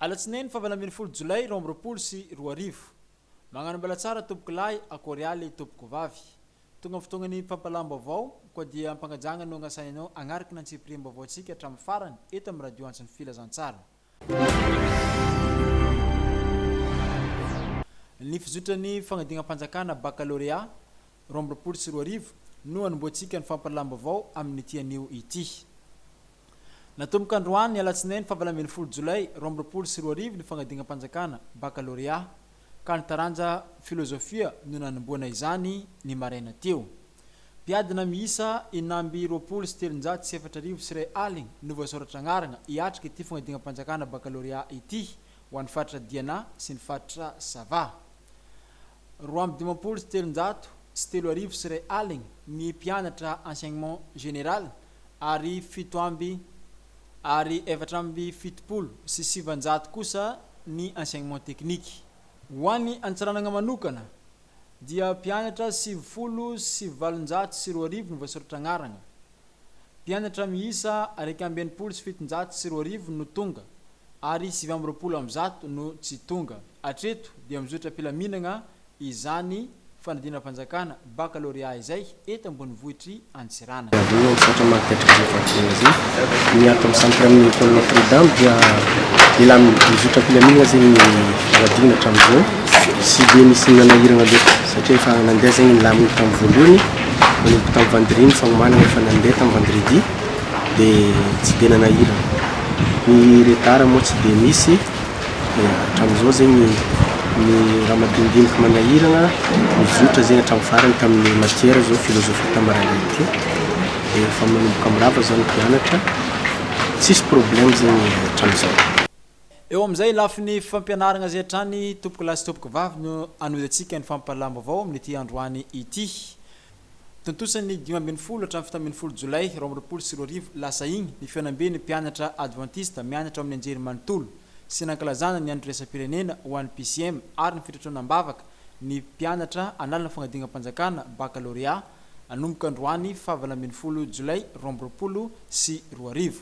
Alatsinainy fahavalo ambin'ny folo jolay roa amby roapolo sy roa arivo. Magnano mbala tsara tompoko lahy akory aly tompoko vavy. Tonga ny fotoagnan'ny fampalam-baovao, koa dia am-pagnajagna no agnasainay anao hagnaraka ny antsipiriam-baovaontsika hatramin'ny farany eto amin'ny Radio Antso ny Filazantsara. Ny fizotran' ny fanadinam-panjakana bakalorea roa amby roapolo sy roa arivo no hanombohantsika ny fampahalalam-baovao amin' ity anio ity. Natomboka androany alatsinainy fahavalo ambin'ny folo jolay roa amby roapolo sy roa arivo ny fanadinam-panjakana bakalorea, ka ny taranja filôzôfia no nanombohana izany ny maraina teo. Mpiadina miisa enina amby roapolo sy telonjato sy efatra arivo sy iray aligny no voasoratra agnaragna hiatrika ity fanadinam-panjakana bakalôrea ity ho an'ny faritra Diana sy ny faritra Sava. Roa amby dimampolo sy telonjato sy telo arivo sy iray aligny ny mpianatra enseignement général ary fito amby ary efatra amby fitopolo sy sivanjato kosa ny enseignement tekniky. Ho an'i Antsiranana manokana, dia mpianatra sivifolo sy valonjato sy roa arivo no voasoratra anarana. Mpianatra miisa iraika amby enimpolo sy fitonjato sy roa arivo no tonga ary sivy amby roapolo amby zato no tsy tonga. Hatreto dia mizotra am-pilaminana izany fanadinam-panjakana, baccalauréat, izay. eto ambonivohitr'i Antsiranana. Avy eo no nisaotra ny Maripetraka Andry Rajoelina Andry Rajoelina Andry niaraka amin'ny samy mpiara-monina tao Notre Dame dia elah nizotra am-pilaminana zegny ny Ladino hatramin'izao tsy dia nisy nanahirana loatra satria efa nandeha zegny ny lamina tamin'ny voalohany nanomboka tamin'ny Vendredi ny fanomanana efa nandeha tamin'ny Vendredi dia tsy dia nanahirana ny retard moa tsy dia nisy dia hatramin'izao zegny ny raha madinidiniky manahiragna nizotra zegny hatramin'ny farany tamin'ny matière zao philosophie tamarana ity dia efa manomboka mirava zao ny mpianatra tsisy problème zegny hatramin'izao. Eo amin'izay lafiny fampianaragna izay hatrany, tompokolahy sy tompokivavy no anozantsika ny fampahalam-baovao amin'ity androany ity. Tontosa ny dimy ambin'ny folo hatramin'ny fito ambin'ny folo Jolay roa amby roapolo sy roa arivo lasa iny ny fihaonamben'ny mpianatra advantista mianatra ao amin'ny anjery manontolo sy nankalazana ny andro iraisam-pirenena ho an'ny PCM ary ny fitrotroana am-bavaka ny mpianatra hanala ny fanadinam-panjakana, baccalauréat, hanomboka androany faha valo ambin'ny folo Jolay roa amby roapolo sy roa arivo.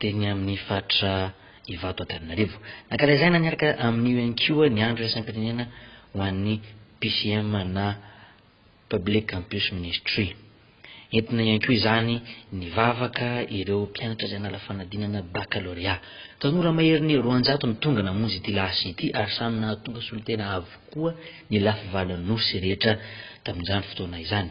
teny amin'ny faritra Ivato Antananarivo. Nankalazaina niaraka amin'io ihany koa ny andro iraisam-pirenena ho an'ny PCM na Public Campus Ministry. Entina ihany koa izany nivavaka ireo mpianatra izay nala fanadinana bakalôrea. Tanora maherin'ny roanjato no tonga namonjy ity lasy ity ary samy nahatonga solontena avokoa ny lafy valan'osy rehetra tamin'izany fotoana izany.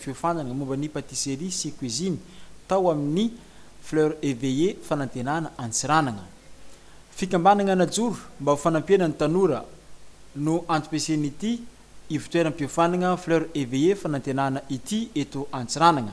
fiofanana momba ny patisserie sy cuisine tao amin'ny Fleur Eveillée Fanantenana Antsiranana. Fikambanana najoro mba ho fanampiana ny tanora no antom-pisian'ity ivotoeram-piofanana Fleur Eveillée Fanantenana ity eto Antsiranana.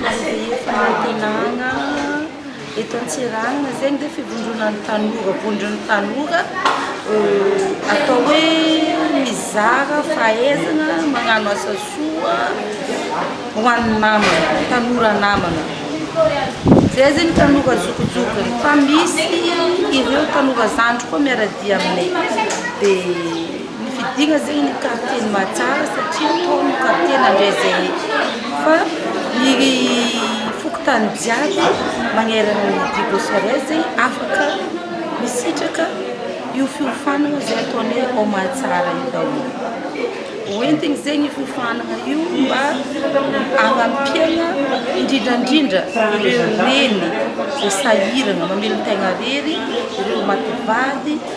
Ny fanantenana eto Antsiranana izay ange fivondronana ny tanora, vondron'ny tanora atao hoe mizara fahaizana magnano asa soa ho an'ny namana, tanora namana. Izay zany tanora zokijokiny fa misy ireo tanora zandry koa miara-dia aminay. Ny fidiana zegny ny quartier ny mahatsara satria tao ny quartier nandray zay fa ny fokontany jiaby magnerana ny dibo serres zegny afaka misitraka io fiofanana zay ataony hoe ao mahatsara io daholo hoentigny zegny io fiofanana io mba agnampiagna indrindrandrindra ireo reny vao sahiragna mamelon-tegna rery ireo maty vady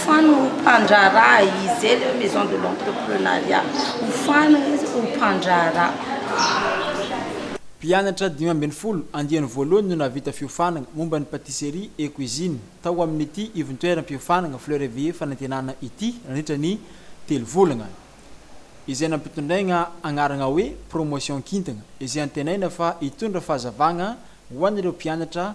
Fano ho mpandraharaha izy zay le maison de l'entreprenariat ho fano izy ho mpandraharaha. Mpianatra dimy ambin'ny folo andiany voalohany no nahavita fiofanana momba ny patisserie et cuisine tao amin'ity ivontoeram-piofanana Fleur et Vie Fanantenana ity nandritra ny telo volana, izay nampitondraina anarana hoe Promotion Kintana, izay antenaina fa hitondra fahazavana ho an'ireo mpianatra.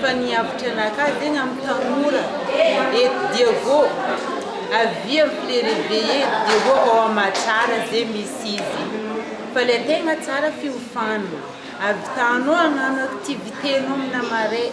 Fa ny hevitry anakahy dia ny amin'ny tanora eto dia vao avia amin'ny le reveille dia vao ao amin'ny maha tsara izay misy izy fa ilay tegna tsara fiofana, avy tano hagnano activité-nao amina marais.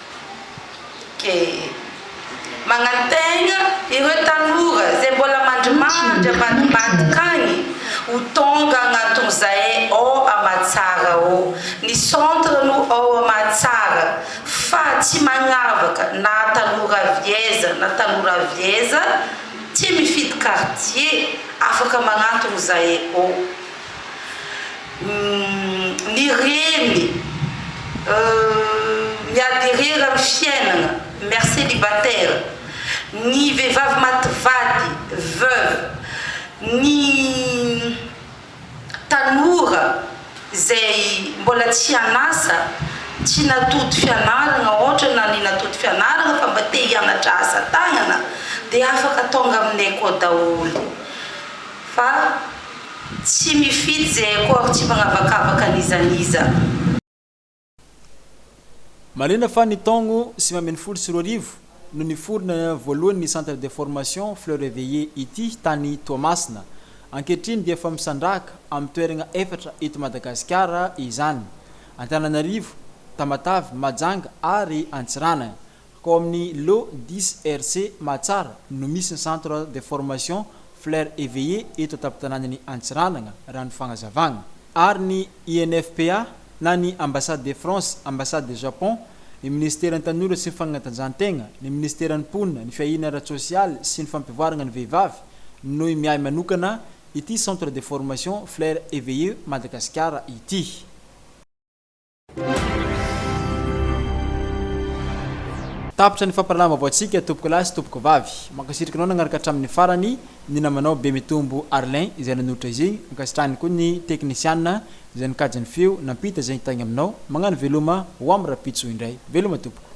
Manantena ireo tanora izay mbola mandrimandry ambadimbadika any ho tonga agnaton'izay ao Amatsara ao. Ny centre no ao Amatsara fa tsy magnavaka na tanora avy aiza na tanora avy aiza, tsy mifidy quartier, afaka magnantogno zahay ao. Humm ny reny euh miady irery amin'ny fiainana mère célibataire, ny vehivavy maty vady veuve, ny tanora izay mbola tsy an'asa, tsy natody fianarana ohatra na ny natody fianarana fa mba te hianatra asa tagnana dia afaka tonga aminay koa daholo fa Tsy mifidy ze accord tsy magnavakavaka n'iza n'iza. Marina fa ny taogno sivy ambin'ny folo sy roa arivo no niforona voalohany ny Centre de formation Fleurs Reveillées ity tany Toamasina. Ankehitriny dia efa misandrahaka amin'ny toeragna efatra eto Madagasikara izany, Antananarivo, Tamatave, Mahajanga ary Antsiranana. Ao amin'ny Lo dix RC Mahatsara no misy ny Centre de formation Fleurs Eveillées eto an-tampon-tanànan'i Antsiranana, raha ny fagnazavana. Ary ny INFPA na ny Ambassade de France, Ambassade de Japon, ny Minisiteran'ny Tanora sy ny Fagnatanjahan-tegna, ny Minisiteran'ny Mponina, ny Fiahiana ara-tsosialy sy ny Fampivoaragna ny Vehivavy no miahy manokana ity Centre de formation Fleurs Eveillées Madagasikara ity. Tapitra ny fampiranaham-baovao tsika tompoko lahy sy tompoko vavy. Mankasitraka anao nagnaraka hatramin'ny farany ny namanao Bemitombo Arlin izay nanolotra izigny, ankasitrahany koa ny teknisiana izay nikajy ny feo nampita zegny tagny aminao, magnano veloma ho am rapitso indray. Veloma tompoko.